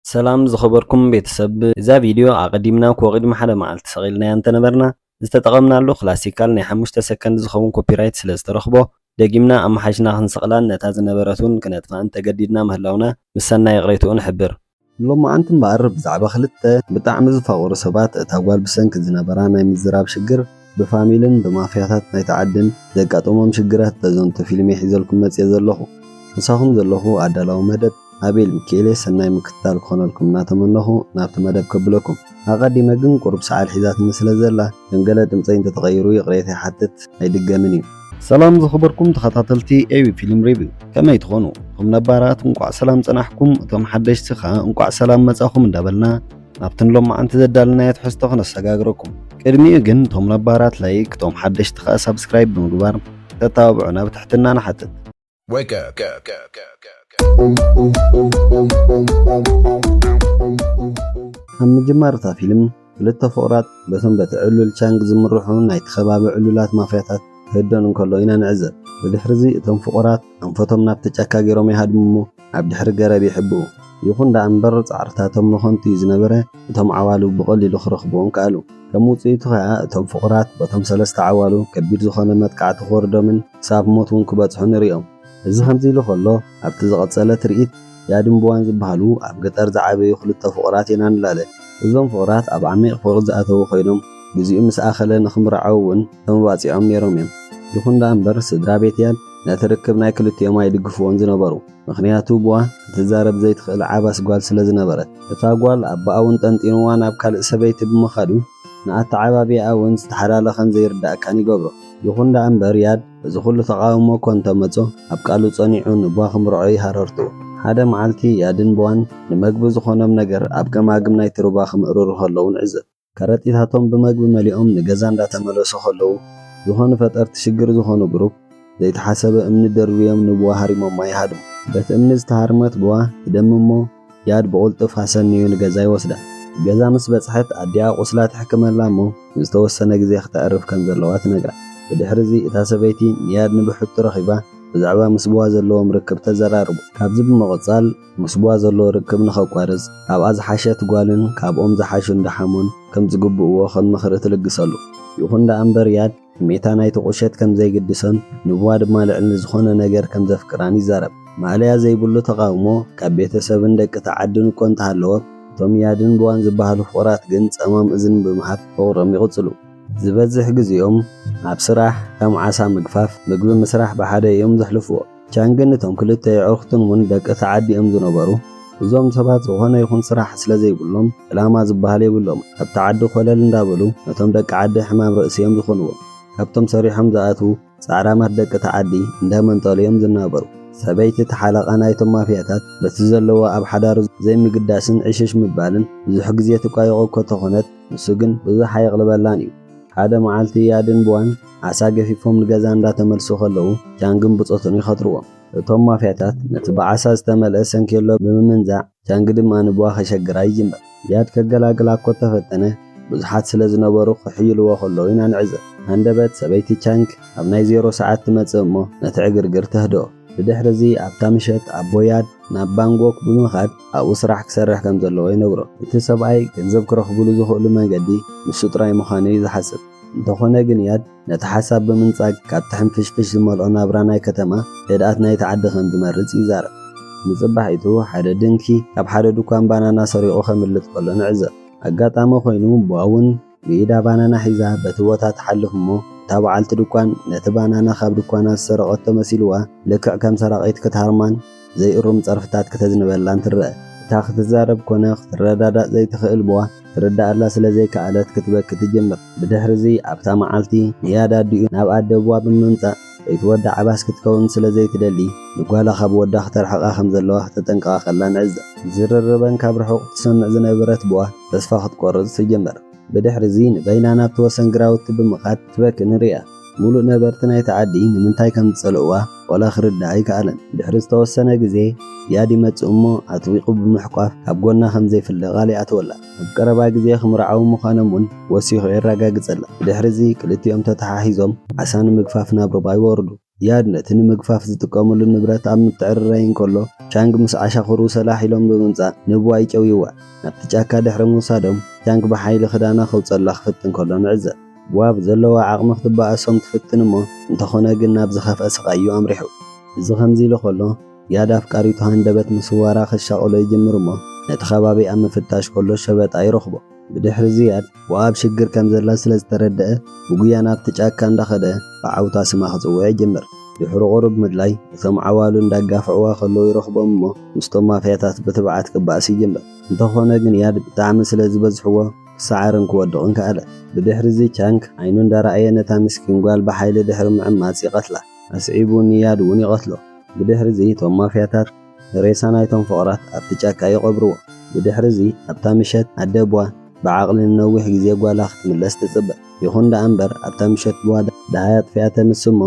ሰላም ዝኸበርኩም ቤተሰብ እዛ ቪድዮ ኣቐዲምና እኮ ቅድሚ ሓደ መዓልቲ ሰቒልናያ እንተነበርና ዝተጠቐምናሉ ክላሲካል ናይ ሓሙሽተ ሰከንድ ዝኸውን ኮፒራይት ስለዝተረኽቦ ደጊምና ኣመሓይሽና ክንሰቕላን ነታ ዝነበረት እውን ክነጥፍኣን ተገዲድና ምህላውና ምስ ሰናይ ይቕሬትኡ ንሕብር። ሎማዓንቲ እምበኣር ብዛዕባ ክልተ ብጣዕሚ ዝፋቐሩ ሰባት እታ ጓል ብሰንኪ ዝነበራ ናይ ምዝራብ ሽግር፣ ብፋሚልን ብማፍያታት ናይቲ ዓድን ዘጋጠሞም ሽግራት ተዘንቱ ፊልሜ ሒዘልኩም መጽየ ዘለኹ። ምሳኹም ዘለኹ ኣዳላዊ መደብ ኣቤል ሚኪኤልየ ሰናይ ምክትታል ክኾነልኩም እናተመነኹ ናብቲ መደብ ከብለኩም። ኣቐዲመ ግን ቁሩብ ሰዓል ሒዛትኒ ስለ ዘላ ከም ገለ ድምጸይ እንተ ተቐይሩ ይቕሬታ ይሓትት ኣይድገምን እዩ። ሰላም ዝኸበርኩም ተኸታተልቲ ኤቢ ፊልም ሪቪው ከመይ ትኾኑ? እቶም ነባራት እንቋዕ ሰላም ጸናሕኩም እቶም ሓደሽቲ ከኣ እንቋዕ ሰላም መጻኹም እንዳበልና፣ ናብቲ ንሎማዓንቲ ዘዳልናዮ ትሕዝቶ ክነሰጋግረኩም ቅድሚኡ ግን እቶም ነባራት ላይክ እቶም ሓደሽቲ ከኣ ሳብስክራይብ ብምግባር ክተተባብዑና ብትሕትና ንሓትት። ኣብ ምጅማር እታ ፊልም ክልተ ፍቑራት በቶም በቲ ዕሉል ቻንግ ዝምርሑ ናይቲ ከባቢ ዕሉላት ማፍያታት ክህደኑ እንከሎ ኢና ንዕዘብ። ብድሕርዚ እቶም ፍቑራት ኣንፈቶም ናብቲ ጫካ ገይሮም ይሃድሙ እሞ ኣብ ድሕሪ ገረብ ይሕብኡ። ይኹን ደኣ እምበር ጻዕርታቶም ንኸንቱ እዩ ዝነበረ፣ እቶም ዓዋሉ ብቐሊሉ ክረኽብዎም ከኣሉ። ከም ውጽኢቱ ከኣ እቶም ፍቑራት በቶም ሰለስተ ዓዋሉ ከቢድ ዝኾነ መጥቃዕቲ ክወርዶምን ክሳብ ሞት እውን ክበጽሑ ንርእዮም። እዚ ከምዚ ኢሉ ከሎ ኣብቲ ዝቐጸለ ትርኢት፣ ያድን ቡዋን ዝበሃሉ ኣብ ገጠር ዝዓበዩ ክልተ ፍቑራት ኢና ንላለ። እዞም ፍቑራት ኣብ ዓሚቕ ፍቕሪ ዝኣተዉ ኮይኖም ግዜኡ ምስ ኣኸለ ንኽምርዓዉ እውን ተመባጺዖም ነይሮም እዮም። ይኹን ደኣ እምበር ስድራ ቤት ያድ፣ ነቲ ርክብ ናይ ክልቲኦም ኣይድግፍዎን ዝነበሩ ምኽንያቱ ቡዋ ክትዛረብ ዘይትኽእል ዓባስ ጓል ስለ ዝነበረት። እታ ጓል ኣባኣ ውን ጠንጢንዋ ናብ ካልእ ሰበይቲ ብምኻዱ ንኣተዓባብያኣ ውን ዝተሓላለኸን ዘይርዳእካን ይገብሮ። ይኹን ደኣ እምበር ያድ እዚ ኹሉ ተቓውሞ እኮ እንተመጾ ኣብ ቃሉ ጸኒዑ ንቡዋ ክምርዖ እዩ ሃረርትኡ። ሓደ መዓልቲ ያድን ቡዋን ንመግቢ ዝኾኖም ነገር ኣብ ገማግም ናይቲ ሩባ ክምእርሩ ከለዉ ንዕዘብ። ከረጢታቶም ብመግቢ መሊኦም ንገዛ እንዳተመለሱ ከለዉ ዝኾኑ ፈጠርቲ ሽግር ዝኾኑ ግሩፕ ዘይተሓሰበ እምኒ ደርብዮም ንቡዋ ሃሪሞማ ይሃድሙ። በቲ እምኒ ዝተሃርመት ቡዋ ትደሚ እሞ ጃድ ብቕልጡፍ ኣሰንዩ ንገዛ ይወስዳ። ገዛ ምስ በጽሐት ኣዲኣ ቁስላ ትሕክመላ እሞ ንዝተወሰነ ግዜ ክተዕርፍ ከም ዘለዋ ትነግራ። ብድሕሪ እዚ እታ ሰበይቲ ንያድ ንብሕቱ ረኺባ ብዛዕባ ምስ ቡዋ ዘለዎም ርክብ ተዘራርቦ። ካብዚ ብምቕጻል። ምስ'ባ ዘሎ ርክብ ንኸቋርጽ፣ ካብኣ ዝሓሸት ጓልን ካብኦም ዝሓሹ እንዳ ሓሙን ከም ዝግብእዎ ከም ምኽሪ ትልግሰሉ። ይኹን ደኣ እምበር ያድ፣ ሕሜታ ናይቲ ቁሸት ከም ዘይግድሶን ን'ባ ድማ ልዕል ንዝኾነ ነገር ከም ዘፍቅራን ይዛረብ። ማእለያ ዘይብሉ ተቓውሞ ካብ ቤተሰብን ደቂ'ታ ዓድን እኮ እንተሃለወ፣ እቶም ያድን ብዋን ዝበሃሉ ፍቑራት ግን ጸማም እዝኒ ብምሃብ ፍቕሮም ይቕጽሉ። ዝበዝሕ ግዜኦም ኣብ ስራሕ፣ ከም ዓሳ ምግፋፍ፣ ምግቢ ምስራሕ ብሓደ እዮም ዘሕልፍዎ። ቻንግን እቶም ክልተ የዕሩኽቱን እውን ደቂ እታ ዓዲ እዮም ዝነበሩ። እዞም ሰባት ዝኾነ ይኹን ስራሕ ስለ ዘይብሎም ዕላማ ዝበሃል የብሎምን። ኣብቲ ዓዲ ኮለል እንዳበሉ ነቶም ደቂ ዓዲ ሕማም ርእሲ እዮም ዝኾንዎም። ካብቶም ሰሪሖም ዝኣትዉ ጻዕራማት ደቂ እታ ዓዲ እንዳመንጠሉ እዮም ዝናበሩ። ሰበይቲ እቲ ሓለቓ ናይቶም ማፍያታት በቲ ዘለዎ ኣብ ሓዳሩ ዘይምግዳስን ዕሽሽ ምባልን ብዙሕ ግዜ ትቋየቖ እኮ ተኾነት ንሱ ግን ብዙሕ ኣየቕልበላን እዩ። ሓደ መዓልቲ ያድንቡዋን፣ ዓሳ ገፊፎም ንገዛ እንዳተመልሱ ከለዉ ጃንግን ብጾቱን ይኸትርዎም። እቶም ማፍያታት ነቲ ብዓሳ ዝተመልአ ሰንኬሎ ብምምንዛዕ ጃንግ ድማ ንቡኣ ከሸግራ ይጅምር። ዝያድ ከገላግላ እኮ እተፈተነ ብዙሓት ስለ ዝነበሩ ክሕይልዎ ከለዉ ኢና ንዕዘብ። ሃንደበት ሰበይቲ ቻንግ ኣብ ናይ ዜሮ ሰዓት ትመጽእ እሞ ነቲ ዕግርግር ተህድኦ። ብድሕርዚ ኣብታ ምሸት ኣቦ ያድ ናብ ባንጎክ ብምኻድ ኣብኡ ስራሕ ክሰርሕ ከም ዘለዎ ይነግሮ። እቲ ሰብኣይ ገንዘብ ክረኽቡሉ ዝኽእሉ መንገዲ ንሱ ጥራይ ምዃኑ እዩ ዝሓስብ። እንተኾነ ግን እያድ ነቲ ሓሳብ ብምንጻግ ካብቲ ሕንፍሽፍሽ ዝመልኦ ናብራ ናይ ከተማ፣ ህድኣት ናይቲ ዓዲ ከም ዝመርጽ ይዛረብ። ንጽባሒቱ ሓደ ድንኪ ካብ ሓደ ድኳን ባናና ሰሪቑ ከምልጥ ከሎ ንዕዘብ። ኣጋጣሚ ኮይኑ ቡኣ'ውን ብኢዳ ባናና ሒዛ በቲ ቦታ ትሓልፍ እሞ እታ በዓልቲ ድኳን ነቲ ባናና ካብ ድኳና ዝሰረቐቶ መሲልዋ ልክዕ ከም ሰራቒት ክትሃርማን፣ ዘይእሩም ጸርፍታት ክተዝንበላን ትረኣ። እታ ክትዛረብ ኮነ ክትረዳዳእ ዘይትኽእል ቡኣ፣ ትርድኣላ ስለ ዘይከኣለት ክትበኪ ትጅምር። ብድሕርዚ ኣብታ መዓልቲ ንያድ ኣዲኡ ናብ ኣደ ቡኣ ብምምጻእ ለይቲ ወዳ ዓባስ ክትከውን ስለ ዘይትደሊ ንጓላ ካብ ወዳ ክተርሕቓ ከም ዘለዋ ክተጠንቅቓ ከላ ንዕዘብ። ዝርርበን ካብ ርሑቕ ትሰምዕ ዝነበረት ቡኣ ተስፋ ክትቆርጽ ትጅምር። ብድሕሪ'ዚ ንበይና ናብቲ ወሰን ግራውቲ ብምኻድ ትበኪ ንርእያ። ምሉእ ነበርቲ ናይቲ ዓዲ ንምንታይ ከም ዝጸልእዋ ዋላ ክርድኣ ኣይከኣለን። ድሕሪ ዝተወሰነ ግዜ ዝያድ ይመጽእ እሞ ኣጥቢቑ ብምሕቋፍ ካብ ጎና ከም ዘይፍለ ቃል ይኣትወላ። ኣብ ቀረባ ግዜ ክምርዓዉ ምዃኖም እውን ወሲኹ የረጋግጸላ። ብድሕሪ'ዚ ክልቲኦም ተተሓሒዞም ዓሳ ንምግፋፍ ናብ ሩባ ይወርዱ። ዚያድ ነቲ ንምግፋፍ ዝጥቀሙሉ ንብረት ኣብ ምትዕርራይ እንከሎ፣ ቻንግ ምስ ዓሻኽሩ ሰላሕ ኢሎም ብምምጻእ ንብዋይ ጨውዩዋ። ናብቲ ጫካ ድሕሪ ምውሳዶም፣ ቻንግ ብሓይሊ ክዳና ከውጽኣላ ክፍትን ከሎ ንዕዘብ። ብዋ ብዘለዋ ዓቕሚ ክትበኣሶም ትፍትን እሞ፣ እንተኾነ ግን ናብ ዝኸፍኣ ስቓይ'ዩ ኣምሪሑ። እዚ ከምዚ ኢሉ ከሎ፣ ዚያድ ኣፍቃሪቱ ሃንደበት ምስዋራ ክሻቐሎ ይጅምር'ሞ፣ ነቲ ከባቢ ኣብ ምፍታሽ ከሎ ሸበጣ ይረኽቦ። ብድሕሪ ዝያድ ብ ኣብ ሽግር ከም ዘላ ስለ ዝተረደኣ ብጉያ ናብቲ ጫካ እንዳ ከደ ብዓውታ ስማ ክጽውዕ ይጅምር። ድሕሪ ቁሩብ ምድላይ እቶም ዓዋሉ እንዳ ኣጋፍዕዋ ከለዉ ይረኽቦም እሞ ምስቶም ማፍያታት ብትብዓት ክባኣስ ይጅምር። እንተ ኾነ ግን ያድ ብጣዕሚ ስለ ዝበዝሕዎ ክሳዓርን ክወድቕን ከኣለ። ብድሕሪ እዚ ቻንግ ዓይኑ እንዳ ረኣየ ነታ ምስኪን ጓል ብሓይሊ ድሕሪ ምዕማጽ ይቐትላ። ኣስዒቡ ንያድ ውን ይቐትሎ። ብድሕሪ እዚ እቶም ማፍያታት ንሬሳ ናይቶም ፍቕራት ኣብቲ ጫካ ይቐብርዎ። ብድሕሪ'ዚ ኣብታ ምሸት ኣደ ቡዋ ብዓቕሊ ንነዊሕ ግዜ ጓላ ክትምለስ ትጽበ። ይኹን ደኣ እምበር ኣብታ ምሸት ቡዋ ደሃይ ኣጥፊኣ ተምስእ እሞ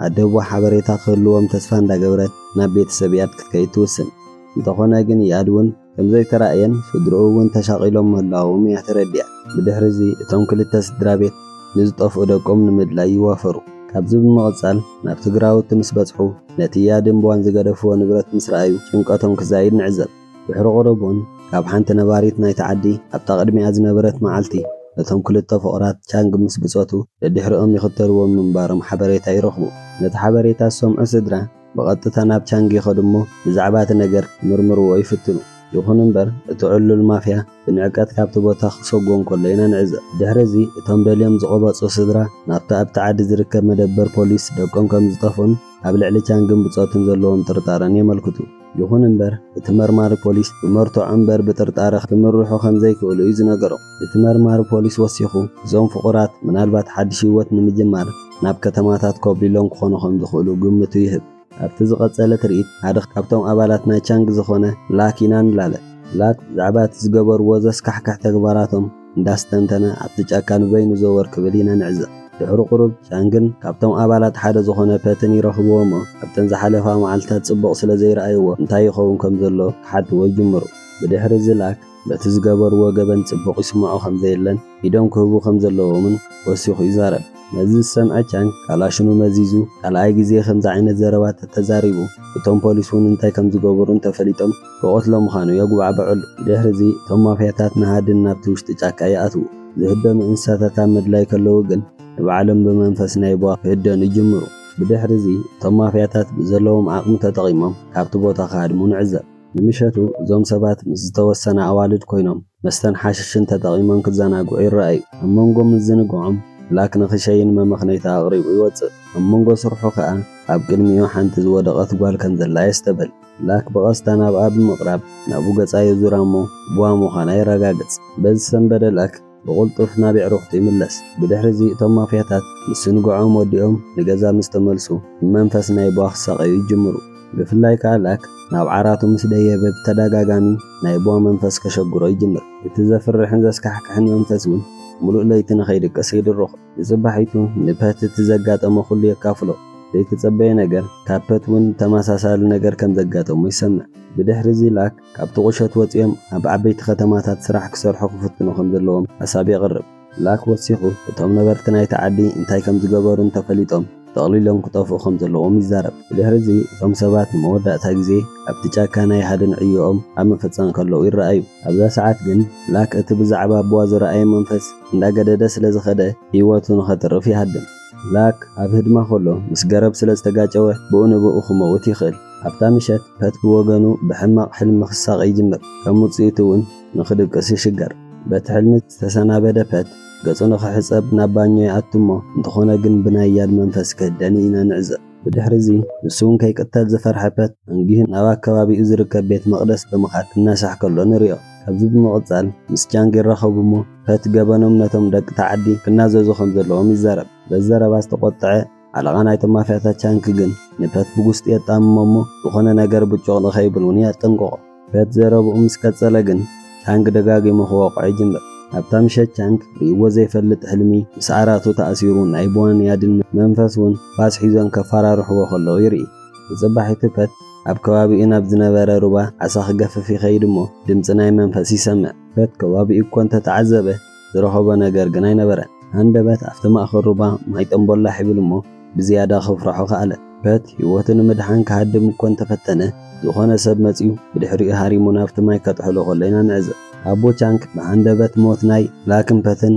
ኣደ ቡዋ ሓበሬታ ክህልዎም ተስፋ እንዳገበረት ናብ ቤተሰብ ኢያድ ክትከይድ ትውስን። እንተኾነ ግን ኢያድ ውን ከም ዘይተራእየን ስድርኡ እውን ተሻቒሎም ምህላዎም እያ ተረዲኣ። ብድሕሪ እዚ እቶም ክልተ ስድራ ቤት ንዝጠፍኡ ደቆም ንምድላይ ይዋፈሩ። ካብዚ ብምቕጻል ናብ ትግራዎት ምስ በጽሑ ነቲ ያድን ቧን ዝገደፍዎ ንብረት ምስ ረኣዩ ጭንቀቶም ክዛይድ ንዕዘብ። ድሕሪ ቁሩብ እውን ካብ ሓንቲ ነባሪት ናይቲ ዓዲ ኣብታ ቅድሚኣ ዝነበረት መዓልቲ ነቶም ክልተ ፍቑራት ቻንግ ምስ ብጾቱ ደድሕሪኦም ይኽተልዎም ምንባሮም ሓበሬታ ይረኽቡ። ነቲ ሓበሬታ ዝሰምዑ ስድራ ብቐጥታ ናብ ቻንግ ይኸዱ እሞ ብዛዕባ እቲ ነገር ክምርምርዎ ይፍትኑ። ይኹን እምበር እቲ ዕሉል ማፍያ ብንዕቀት ካብቲ ቦታ ክሰጎ እንከሎ ኢና ንዕዘብ። ድሕሪ እዚ እቶም ደልዮም ዝቐበጹ ስድራ ናብቲ ኣብቲ ዓዲ ዝርከብ መደበር ፖሊስ ደቆም ከም ዝጠፍኡን ኣብ ልዕሊ ቻንግን ብጾቱን ዘለዎም ጥርጣረን የመልክቱ። ይኹን እምበር እቲ መርማሪ ፖሊስ ብመርትዖ እምበር ብጥርጣረ ክምርሑ ከም ዘይክእሉ እዩ ዝነገሮም። እቲ መርማሪ ፖሊስ ወሲኹ፣ እዞም ፍቑራት ምናልባት ሓድሽ ህይወት ንምጅማር ናብ ከተማታት ኮብሊሎም ክኾኑ ከም ዝኽእሉ ግምቱ ይህብ። ኣብቲ ዝቐጸለ ትርኢት፣ ሓደ ካብቶም ኣባላት ናይ ቻንግ ዝዀነ ላክ ኢና ንላለ። ላክ ብዛዕባ እቲ ዝገበርዎ ዘስካሕክሕ ተግባራቶም እንዳስተንተነ ኣብቲ ጫካ ንበይኑ ዘወር ክብል ኢና ንዕዘብ። ድሕሪ ቁሩብ፣ ቻንግን ካብቶም ኣባላት ሓደ ዝዀነ ፐትን ይረኽብዎ እሞ፣ ኣብተን ዝሓለፋ መዓልትታት ጽቡቕ ስለ ዘይረኣይዎ እንታይ ይኸውን ከም ዘሎ ክሓትዎ ይጅምሩ። ብድሕሪ እዚ ላክ፣ በቲ ዝገበርዎ ገበን ጽቡቕ ይስምዖ ከም ዘየለን ኢዶም ክህቡ ከም ዘለዎምን ወሲኹ ይዛረብ። ነዚ ዝሰምዐ ቻንግ ካላሽኑ መዚዙ ካልኣይ ግዜ ከምዚ ዓይነት ዘረባ ተተዛሪቡ እቶም ፖሊስ እውን እንታይ ከም ዝገበሩ እንተፈሊጦም ክቐትሎ ምዃኑ የጉባዕብዐሉ። ብድሕሪዚ እቶም ማፍያታት ንሃድን ናብቲ ውሽጢ ጫካ ይኣትዉ። ዝህደኑ እንስሳታት ኣብ ምድላይ ከለዉ ግን ንባዕሎም ብመንፈስ ናይ ቡኣ ክህደኑ ይጅምሩ። ብድሕሪዚ እቶም ማፍያታት ብዘለዎም ዓቕሚ ተጠቒሞም ካብቲ ቦታ ክሃድሙ ንዕዘብ። ንምሸቱ እዞም ሰባት ምስ ዝተወሰና ኣዋልድ ኮይኖም መስተን ሓሽሽን ተጠቒሞም ክዘናግዑ ይረኣዩ። ኣብ መንጎ ምዝንግዖም ብላክ ንክሸይን መመኽነይታ ኣቕሪቡ ይወጽእ። ኣብ መንጎ ስርሑ ከኣ ኣብ ቅድሚኡ ሓንቲ ዝወደቐት ጓል ከም ዘላ የስተብህል። ብላክ ብቐስታ ናብኣ ብምቕራብ ናብኡ ገጻ የዙራ እሞ ቡኣ ምዃና የረጋግጽ። በዚ ሰንበደ ላክ። ብቕልጡፍ ናብ የዕሩኽቱ ይምለስ። ብድሕሪ'ዚ እቶም ማፍያታት ምስ ስንግዖም ወዲኦም ንገዛ ምስ ተመልሱ ብመንፈስ ናይ ቧ ክሳቐዩ ይጅምሩ። ብፍላይ ከኣ ላክ ናብ ዓራቱ ምስ ደየበ ብተደጋጋሚ ናይ ቧ መንፈስ ከሸግሮ ይጅምር። እቲ ዘፍርሕን ዘስካሕክሕን መንፈስ እውን ምሉእ ለይቲ ንኸይድቅስ ይድርኾ። ንጽባሒቱ ንፐት እቲ ዘጋጠሞ ኩሉ የካፍሎ። ዘይተጸበየ ነገር ካብ ፐት እውን ተመሳሳሊ ነገር ከም ዘጋጠሞ ይሰምዕ። ብድሕሪ'ዚ ላክ ካብቲ ቁሸት ወጺኦም ኣብ ዓበይቲ ከተማታት ስራሕ ክሰርሑ ክፍትኑ ከም ዘለዎም ሓሳብ የቕርብ። ብላክ ወሲኹ፣ እቶም ነበርቲ ናይቲ ዓዲ እንታይ ከም ዝገበሩ እንተፈሊጦም ጠቕሊሎም ክጠፍኡ ከም ዘለዎም ይዛረብ። ብድሕሪ'ዚ እቶም ሰባት ንመወዳእታ ግዜ ኣብቲ ጫካ ናይ ሃድን ዕዮኦም ኣብ ምፍጻም ከለዉ ይረኣዩ። ኣብዛ ሰዓት ግን ብላክ እቲ ብዛዕባ ኣቦኣ ዝረኣዮ መንፈስ እንዳገደደ ስለ ዝኸደ ህይወቱ ንኸትርፍ ይሃድን። ብላክ ኣብ ህድማ ከሎ ምስ ገረብ ስለ ዝተጋጨወ ብኡ ንብኡ ክመውት ይኽእል። ኣብታ ምሸት ፐት ብወገኑ ብሕማቕ ሕልሚ ክሳቐ ይጅምር፣ ከም ውጽኢቱ እውን ንኽድቅስ ይሽገር። በቲ ሕልሚ ዝተሰናበደ ፐት ገጹ ንኽሕጸብ ናብ ባኞ ይኣቱ እሞ እንተኾነ ግን ብናይ ያድ መንፈስ ክህደን ኢና ንዕዘብ። ብድሕሪ'ዚ ንሱ እውን ከይቅተል ዝፈርሐ ፐት ኣንጊሁ ናብ ኣከባቢኡ ዝርከብ ቤት መቕደስ ብምኻድ እናሳሕ ከሎ ንሪኦ። ካብዚ ብምቕጻል ምስ ጃንግ ይራኸቡ እሞ ፈት ገበኖም ነቶም ደቂ'ታ ዓዲ ክናዘዙ ከም ዘለዎም ይዛረብ። በዚ ዘረባ ዝተቖጥዐ ሓለቓ ናይቶም ማፍያታት ቻንክ ግን ንፈት ብጉስጢ የጣምሞ እሞ ዝኾነ ነገር ብጩቕ ንኸይብል እውን የጠንቅቖ። ፈት ዘረብኡ ምስ ቀጸለ ግን ቻንግ ደጋጊሙ ክወቕዖ ይጅምር። ኣብታ ምሸት ቻንግ ርእይዎ ዘይፈልጥ ሕልሚ ምስ ዓራቱ ተኣሲሩ ናይ ቦን ያድን መንፈስ እውን ፋስ ሒዞም ከፈራርሕዎ ከለዉ ይርኢ። ንጽባሒቱ ፈት ኣብ ከባቢኡ ናብ ዝነበረ ሩባ ዓሳ ክገፍፍ ይኸይድ እሞ ድምጺ ናይ መንፈስ ይሰምዕ። በቲ ከባቢኡ እኮ እንተ ተዓዘበ ዝረኸቦ ነገር ግን ኣይነበረን። ሃንደበት ኣብቲ ማእከል ሩባ ማይ ጠምቦላሕ ይብል እሞ ብዝያዳ ክፍርሖ ከኣለ። በቲ ህይወቱ ንምድሓን ክሃድም እኮ እንተ ፈተነ ዝኾነ ሰብ መጺኡ ብድሕሪኡ ሃሪሙ ናብቲ ማይ ከጥሕሎ ከሎ ኢና ንዕዘብ። ኣቦ ቻንግ ብሃንደበት ሞት ናይ ላክምፐትን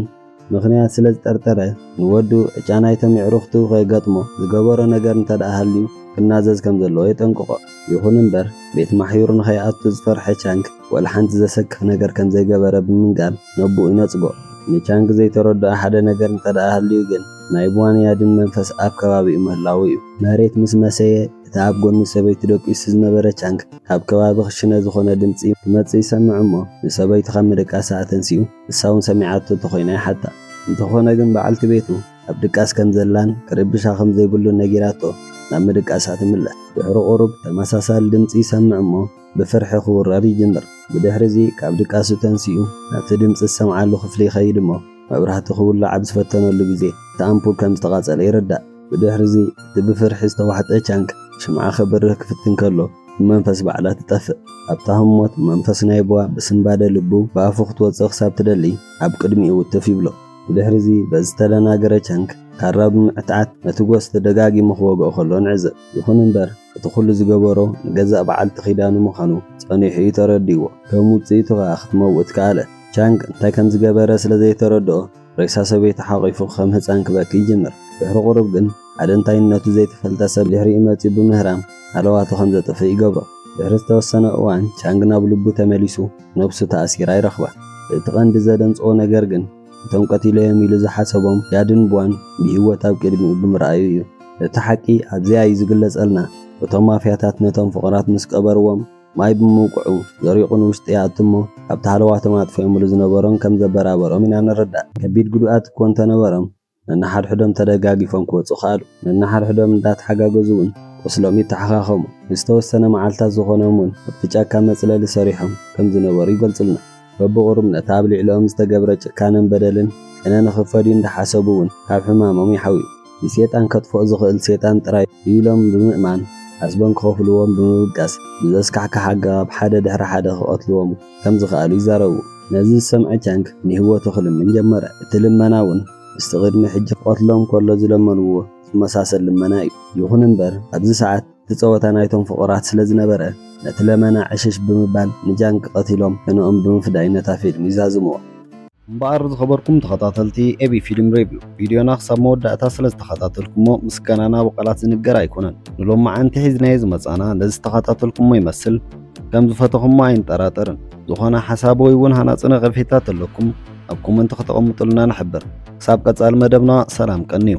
ምኽንያት ስለ ዝጠርጠረ፣ ንወዱ ዕጫ ናይቶም የዕሩኽቱ ከየጋጥሞ ዝገበሮ ነገር እንተድኣ ሃልዩ ክናዘዝ ከም ዘለዎ የጠንቅቖ። ይኹን እምበር፣ ቤት ማሕዩር ንኸይኣቱ ዝፈርሐ ቻንግ፣ ዋላ ሓንቲ ዘሰክፍ ነገር ከም ዘይገበረ ብምንጋር ነቦኡ ይነጽጎ። ንቻንግ ዘይተረድኦ ሓደ ነገር እንተድኣ ሃልዩ ግን፣ ናይ ብዋን ያድን መንፈስ ኣብ ከባቢኡ ምህላዉ'ዩ። መሬት ምስ መሰየ፣ እቲ ኣብ ጎኒ ሰበይቱ ደቂሱ ዝነበረ ቻንግ፣ ካብ ከባቢ ክሽነ ዝኾነ ድምጺ ክመጽእ ይሰምዕ'ሞ፣ ንሰበይቱ ካብ ምድቃሳ ኣተንሲኡ፣ ንሳ ውን ሰሚዓቶ እንተኾይና ይሓታ። እንተኾነ ግን በዓልቲ ቤቱ ኣብ ድቃስ ከም ዘላን ክርብሻ ከም ዘይብሉን ነጊራቶ ናብ ምድቃሳ ትምለስ። ድሕሪ ቁሩብ ተመሳሳሊ ድምጺ ይሰምዕ እሞ ብፍርሒ ክውረር ይጅምር። ብድሕሪ'ዚ ካብ ድቃሱ ተንሲኡ ናብቲ ድምጺ ዝሰምዓሉ ክፍሊ ይኸይድ እሞ መብራህቲ ክውላዕ ኣብ ዝፈተነሉ ግዜ እቲ ኣምፑል ከም ዝተቓጸለ ይርዳእ። ብድሕርዚ እቲ ብፍርሒ ዝተዋሕጠ ቻንክ ሽምዓ ከብርህ ክፍትን ከሎ ብመንፈስ ባዕላ ትጠፍእ። ኣብታ ህሞት መንፈስ ናይ ቡዋ ብስንባደ ልቡ ብኣፉ ክትወጽእ ክሳብ ትደሊ ኣብ ቅድሚኡ ውትፍ ይብሎ። ብድሕርዚ በዚ ዝተደናገረ ቻንክ ካራ ብምዕትዓት ነቲ ጎስት ደጋጊሙ ክወግኦ ከሎ ንዕዘብ። ይኹን እምበር እቲ ኩሉ ዝገበሮ ንገዛእ በዓልቲ ኪዳኑ ምዃኑ ጸኒሑ እዩ ተረዲእዎ። ከም ውጽኢቱ ከኣ ክትመውት ከኣለት። ቻንክ እንታይ ከም ዝገበረ ስለ ዘይተረድኦ፣ ሬሳ ሰበይቱ ሓቚፉ ከም ህጻን ክበኪ ይጅምር። ድሕሪ ቁሩብ ግን ሓደ እንታይነቱ ዘይተፈልጠ ሰብ ድሕሪኡ መጺኡ ብምህራም ሃለዋቱ ከም ዘጥፍእ ይገብሮ። ድሕሪ ዝተወሰነ እዋን ቻንግ ናብ ልቡ ተመሊሱ ነብሱ ተኣሲራ ይረኽባ። እቲ ቀንዲ ዘደንጽዎ ነገር ግን እቶም ቀቲለዮም ኢሉ ዝሓሰቦም ያድን ቧን ብህይወት ኣብ ቅድሚኡ ብምርኣዩ እዩ። እቲ ሓቂ ኣብዚኣ እዩ ዝግለጸልና፣ እቶም ማፍያታት ነቶም ፍቑራት ምስ ቀበርዎም፣ ማይ ብምውቅዑ ዘሪቑ ንውሽጢ ይኣቱ እሞ ካብቲ ሃለዋቶም ኣጥፊኦምሉ ዝነበሩን ከም ዘበራበሮም ኢና ንርዳእ። ከቢድ ጉድኣት እኮ እንተነበሮም ነንሓድሕዶም ተደጋጊፎም ክወጹ ከኣሉ። ነንሓድሕዶም እንዳተሓጋገዙ ውን ቁስሎም ይተሓኻኸሙ። ንዝተወሰነ መዓልታት ዝኾኖም ውን ኣብቲ ጫካ መጽለሊ ሰሪሖም ከም ዝነበሩ ይገልጹልና። በብቑሩብ ነቲ ኣብ ልዕሊኦም ዝተገብረ ጭካነን በደልን ቅነ ንኽፈድዩ እንዳሓሰቡ ውን ካብ ሕማሞም ይሓውዩ። ንሴጣን ከጥፍኦ ዝኽእል ሴጣን ጥራይ'ዩ ኢሎም ብምእማን ዓስቦም ክኸፍልዎም ብምብጋስ ብዘስካሕክሕ ኣገባብ ሓደ ድሕሪ ሓደ ክቐትልዎም ከም ዝኸኣሉ ይዛረቡ። ነዚ ዝሰምዐ ቻንግ ንህይወቱ ክልምን ጀመረ። እቲ ልመና ውን ምስቲ ቅድሚ ሕጂ ክቐትሎም ከሎ ዝለመንዎ ዝመሳሰል ልመና'ዩ። ይኹን እምበር ኣብዚ ሰዓት። እቲ ጸወታ ናይቶም ፍቑራት ስለ ዝነበረ፣ ነቲ ለመና ዕሽሽ ብምባል ንጃንግ ቀቲሎም ሕነኦም ብምፍዳይ ነታ ፊልም ይዛዝሙዋ። እምበኣር ዝኸበርኩም ተኸታተልቲ ኤቢ ፊልም ሬቪው፣ ቪድዮና ክሳብ መወዳእታ ስለ ዝተኸታተልኩሞ ምስጋናና ብቓላት ዝንገር ኣይኮነን። ንሎማዓንቲ ሒዝናዮ ዝመጻና ነዚ ዝተኸታተልኩሞ ይመስል። ከም ዝፈተኹሞ ኣይንጠራጠርን። ዝኾነ ሓሳብ ወይ እውን ሃናጺ ነቐፌታ ተለኩም ኣብ ኮመንቲ ከተቐምጡልና ንሕብር። ክሳብ ቀጻሊ መደብና ሰላም ቀንዩ።